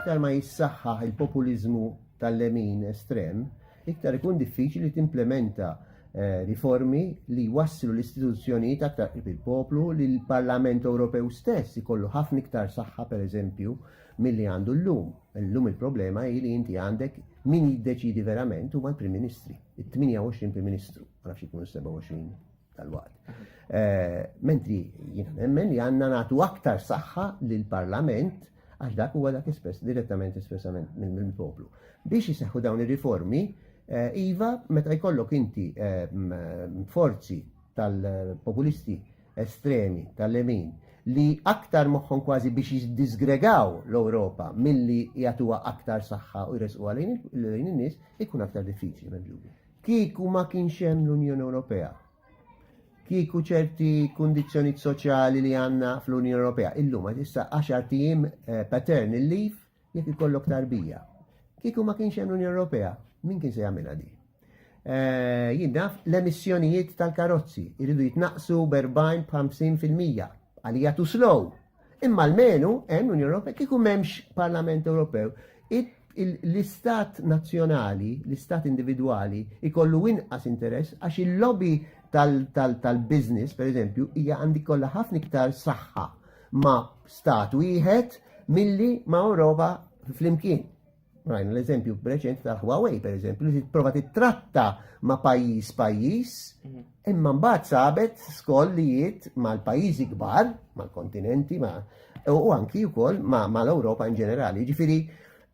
Iktar ma jissaħħaħ il-populiżmu tal-lemin estrem, iktar ikun diffiċli timplementa eh, riformi li jwasslu l-istituzzjonijiet aktar qrib il-poplu li l-Parlament Ewropew stess ikollu ħafna iktar saħħa pereżempju milli għandu llum. Llum il-problema hi li inti għandek min jiddeċidi verament huma l-Prim Ministri, it-28 Prim Ministru, ma nafx ikunu 27. tal-waqt. Eh, mentri jiena nemmen li għandna nagħtu aktar saħħa lill parlament għax dak huwa dak espress direttament espressament mill-poplu. Biex jiseħħu dawn ir-riformi, eh, iva meta jkollok inti eh, forzi tal-populisti estremi tal-lemin li aktar moħħon kważi biex jiddisgregaw l-Ewropa milli jagħtuha aktar saħħa u jresqu għalin in-nies ikun aktar diffiċli minn Kieku ma kienx hemm l-Unjoni Ewropea, kieku ċerti kundizzjonijiet soċjali li għandna fl-Unjoni Ewropea, illum għad issa 10 tim eh, pattern il-liv jekk ikollok tarbija. Kieku ma kienx hemm l-Unjoni Ewropea, min kien se jagħmilha di? Eh, Jinnaf l-emissjonijiet tal-karozzi jridu jitnaqsu b'40 b'50 fil-mija għalija tu slow Imma l-menu hemm l-Unjoni Ewropea kieku m'hemmx Parlament Ewropew l-istat nazzjonali, l-istat individwali, ikollu inqas interess għax il-lobby tal-biznis, per eżempju, hija għandi kollha ħafna iktar saħħa ma' stat wieħed milli ma' Ewropa flimkien. Rajna l-eżempju preċent ta' Huawei, per eżempju, li prova titratta ma' pajjiż pajjiż, mhm. imma mbagħad sabet skollijiet mal-pajjiżi kbar, mal-kontinenti, ma' u anki wkoll ma' l-Ewropa in ġenerali. Ġifieri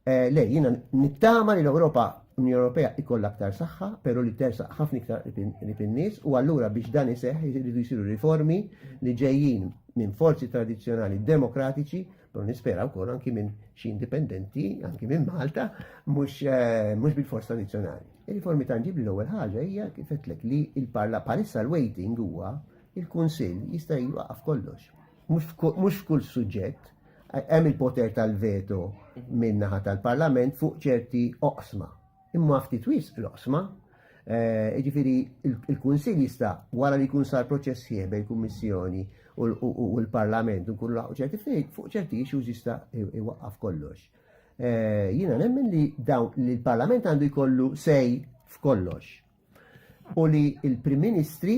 eh, le jiena nittama li l-Ewropa Unjoni Ewropea ikollha aktar saħħa, però li tersa ħafna iktar li fin-nies u allura biex dan iseħħ jridu jsiru riformi li ġejjin minn forzi tradizzjonali demokratiċi Don nispera wkoll anki minn xi indipendenti, anki minn Malta, mhux eh, bil-forz tradizzjonali. Il-riformi tanġibli l-ewwel ħaġa hija kif qedlek li il-parla parissa l-waiting huwa il-Kunsill jista' jwaqaf kollox. Mhux f'kull suġġett hemm il-poter tal-veto minn naħa tal-Parlament fuq ċerti oqsma. imma ftit wisq l-oqsma. Eh, ġifiri, il-Kunsil jista' wara li jkun sar proċess sħiħ bejn kummissjoni u l-Parlament u kun laħu ċerti ftehim fuq ċerti issues jista' iwaqqaf kollox. Eh, jiena nemmen li dawn li l-Parlament għandu jkollu sej f'kollox. u li il-Prim Ministri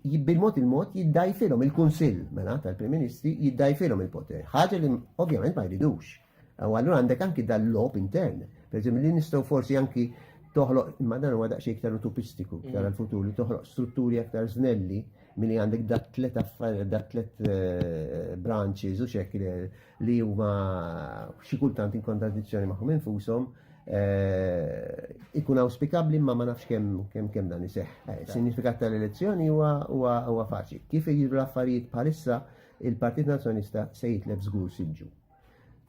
bil-mod il-mod jiddajfilhom il-Kunsill mela tal-Prim Ministri jiddajfilhom il-poter. Ħaġa li ovvjament ma jridux. U allura għandek anki dal-lob intern. Per li nistgħu forsi anki toħloq, imma dan huwa daqsxejn iktar utopistiku mm. iktar għal-futur li toħloq strutturi aktar snelli milli għandek dat tlet affarijiet, dat tlet eh, branches u xekk li huma xi kultant in kontradizzjoni magħhom infushom eh, ikun auspikabli ma ma nafx kemm kemm kemm dan iseħħ. Eh, Sinifikat tal-elezzjoni huwa huwa huwa faċli. Kif jiġu l-affarijiet bħalissa il-Partit Nazzjonista se jitlef żgur siġġu.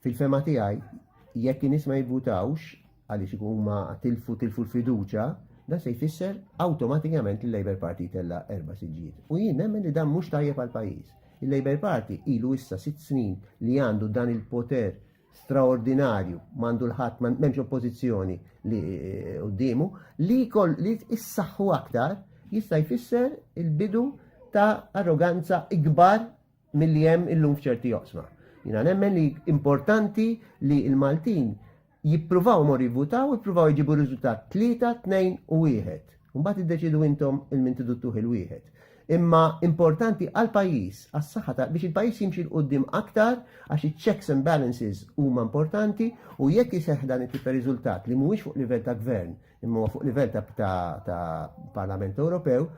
Fil-fema tiegħi jekk in-nies ma jivvutawx għaliex ikun huma tilfu tilfu l-fiduċa, dan se jfisser awtomatikament li l-Labour Party tella erba' siġġijiet. U jien nemmen li dan mhux tajjeb għal pajjiż. Il-Labour Party ilu issa sitt snin li għandu dan il-poter straordinarju, mandu l-ħadd m'hemmx oppożizzjoni li eh, quddiemu, li kol li issaħħu aktar jista' jfisser il-bidu ta' arroganza ikbar milli hemm illum f'ċerti joqsma. Jina nemmen li importanti li il-Maltin jippruvaw mor jivvutaw, jippruvaw jġibu riżultat 3, 2 u 1. Mbagħad iddeċidu intom il-min tiduttuh il-wieħed. Imma importanti għal pajjiż, għas saħħa ta' biex il-pajjiż jimxi l-qoddim aktar, għax iċ-checks and balances huma importanti u jekk jiseħ dan it ta' riżultat li mhuwiex fuq livell ta' gvern, imma fuq livell ta' Parlament Ewropew,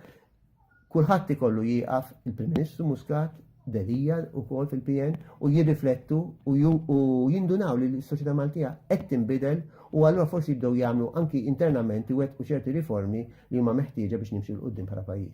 Kulħadd ikollu jieqaf il-Prim Ministru Muscat, Delia wkoll fil-PN u jirriflettu u jindunaw li s-soċjetà Maltija qed tinbidel u allura forsi jibdew jagħmlu anki internament iwettqu ċerti riformi li huma meħtieġa biex nimxu 'l quddiem bħala pajjiż.